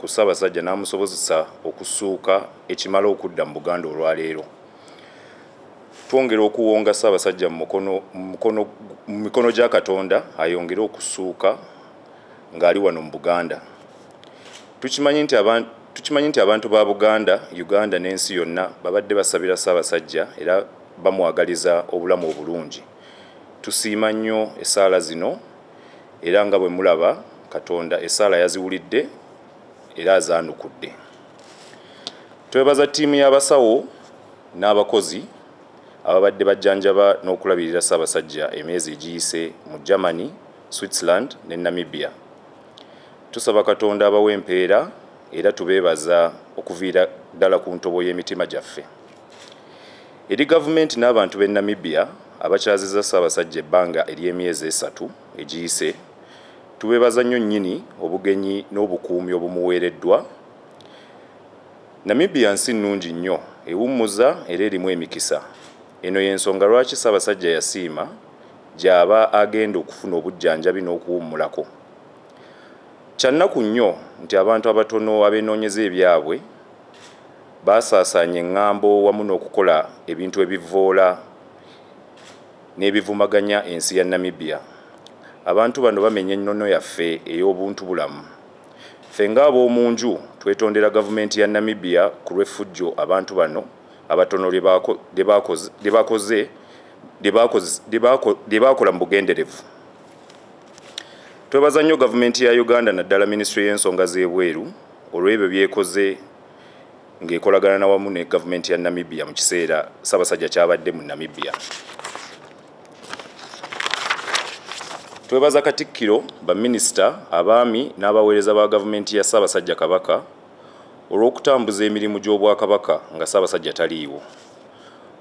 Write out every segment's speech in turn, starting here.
ku Ssaabasajja n'amusobozesa okusuuka ekimala okudda mu Buganda olwaleero. Twongera okuwonga Ssaabasajja mu mikono gya Katonda ayongere okusuuka ng'ali wano mu Buganda. Tukimanyi nti abantu ba Buganda, Uganda n'ensi yonna babadde basabira Ssaabasajja era bamwagaliza obulamu obulungi. Tusiima nnyo essaala zino. era nga bwe mulaba katonda esaala yaziwulidde era azaanukudde twebaza ttiimu y'abasawo n'abakozi ababadde bajjanjaba n'okulabirira ssaabasajja emyezi egiyise mu germany switzerland ne namibia tusaba katonda abawa empeera era tubeebaza okuviira ddala ku ntobo y'emitima gyaffe Eri gavumenti n'abantu b'e Namibia abakyazizza Ssaabasajja ebbanga ery'emyezi esatu egiyise, tubeebaza nnyo nnyini obugenyi n'obukuumi obumuweereddwa. Namibia nsi nnungi nnyo, ewummuza era erimu emikisa. Eno y'ensonga lwaki Ssaabasajja yasiima gy'aba agenda okufuna obujjanjabi n'okuwummulako. Kya nnaku nnyo nti abantu abatono abeenoonyeza ebyabwe, Baasaasaanya eŋŋambo wamu n'okukola ebintu ebivvoola n'ebivumaganya ensi ya Namibia. Abantu bano bamenya ennono yaffe ey'obuntubulamu. Ffe ng'ab'omu nju twetondera Gavumenti ya Namibia ku lw'effujjo abantu bano abatono lye baakola mu bugenderevu. Twebaza nnyo Gavumenti ya Uganda naddala Minisitule y'ensonga z'ebweru olw'ebyo by'ekoze. ng'ekolagana na wamu ne gavumenti ya Namibia mu kiseera Ssaabasajja kyabadde mu Namibia. Twebaza Katikkiro, baminisita, abaami n'abaweereza ba gavumenti ya Ssaabasajja Kabaka olw'okutambuza emirimu gy'Obwakabaka nga Ssaabasajja taliiwo.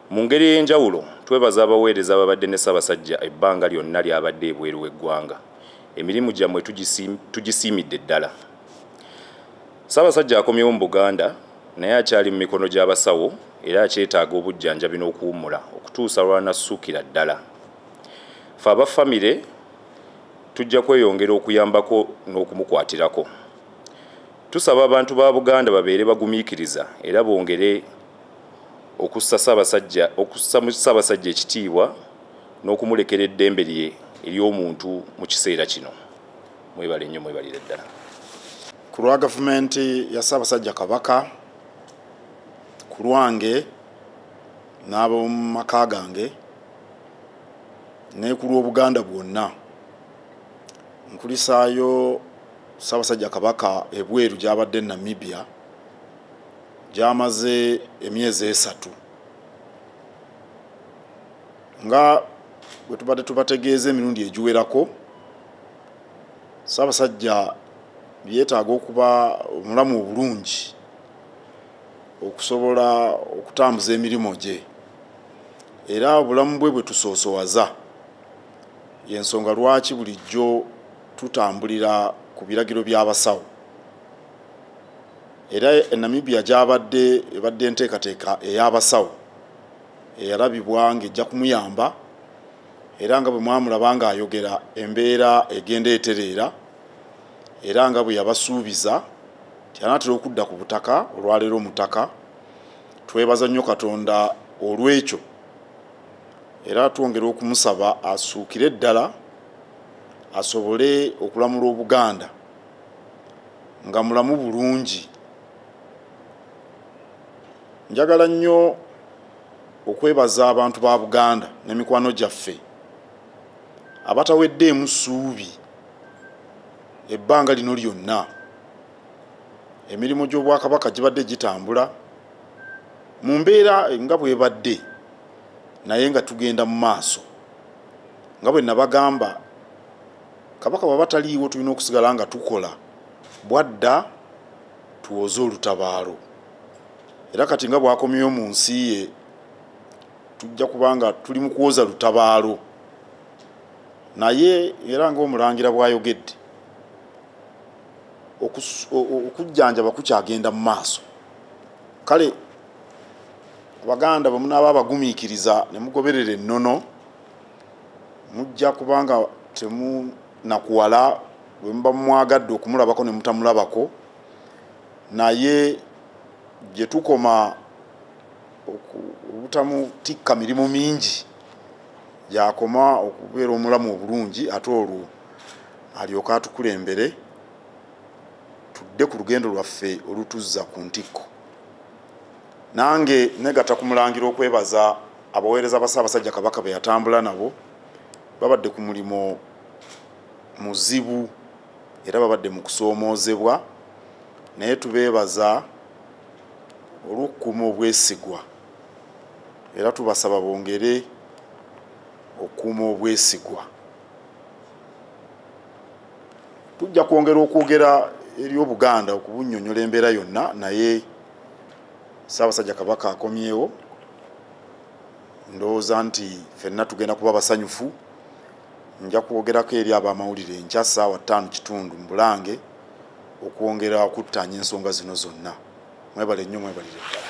Mu ngeri ey'enjawulo, twebaza abaweereza ababadde ne Ssaabasajja ebbanga lyonna ly'abadde ebweru w'eggwanga. Emirimu gyammwe tugisiimidde ddala. Ssaabasajja akomyewo mu Buganda naye akyali mu mikono gy'abasawo era akyetaaga obujjanjabi n'okuwummula okutuusa lw'anassuukira ddala. Ffe aba ffamire tujja kweyongera okuyambako n'okumukwatirako. Tusaba abantu ba Buganda babeere bagumiikiriza era bongere okussa Ssaabasajja okussa mu Ssaabasajja ekitiibwa n'okumulekera eddembe lye ery'omuntu mu kiseera kino. Mwebale nnyo mwebalire ddala. ku lwa gavumenti ya ssaabasajja kabaka ku lwange n'ab'omu maka gange ne ku lw'obuganda bwonna nkulisaayo ssaabasajja kabaka ebweru gy'abadde e namibia gy'amaze emyezi esatu nga bwe tubadde tubategeeza emirundi egiwerako ssaabasajja byetaaga okuba omulamu obulungi okusobola okutambuza emirimu gye era obulamu bwe bwe tusoosowaza yensonga lwaki bulijjo tutambulira ku biragiro by'abasawo era enamibia gyabadde ebadde enteekateeka ey'abasawo eyalabibwa ng'ejja kumuyamba era nga bwe mwamulaba ng'ayogera embeera egenda etereera era nga bwe yabasuubiza nti anaatera okudda ku butaka olwaleero mutaka twebaza nnyo katonda olw'ekyo era twongera okumusaba asuukire ddala asobole okulamula obuganda nga mulamu bulungi njagala nnyo okwebaza abantu ba buganda ne mikwano gyaffe abataweddeemu ssuubi ebbanga lino lyonna emirimu gy'obwakabaka gibadde gitambula mu mbeera nga bwebadde naye nga tugenda mu maaso nga bwe nabagamba kabaka bwaba taliiwo tulina okusigala nga tukola bwadda tuwoze olutabaalo era kati nga bwakomyewo mu nsi ye tujja kubanga tuli mu kuwoza lutabaalo naye era ngaomulangira bwayogedde okujjanjaba kukyagenda mu maaso kale abaganda bwemunaaba abagumiikiriza ne mugoberera ennono mujja kubanga temu nakuwala bwemuba mumwagadde okumulabako nemutamulabako naye gyetukoma obutamutikka mirimu mingi gyakoma okubeera omulamu obulungi ate olwo alyoke atukulembere tudde ku lugendo lwaffe olutuzza ku ntikko nange negata kumulangira okwebaza abaweereza ba ssaabasajja kabaka beyatambula nabo babadde ku mulimu muzibu era babadde mu kusoomoozebwa naye tubeebaza olw'okukuuma obwesigwa era tubasaba bongere okukuuma obwesigwa tujja kwongera okwogera eri obuganda okubunyonyola embeera yonna naye ssaabasajja kabaka akomyewo ndowooza nti fenna tugenda kuba basanyufu nja kwogerako eri abamawulire enkya saawa ttaano kitundu mu bulange okwongera okuttaanya ensonga zino zonna mwebale nnyo mwebalire ddala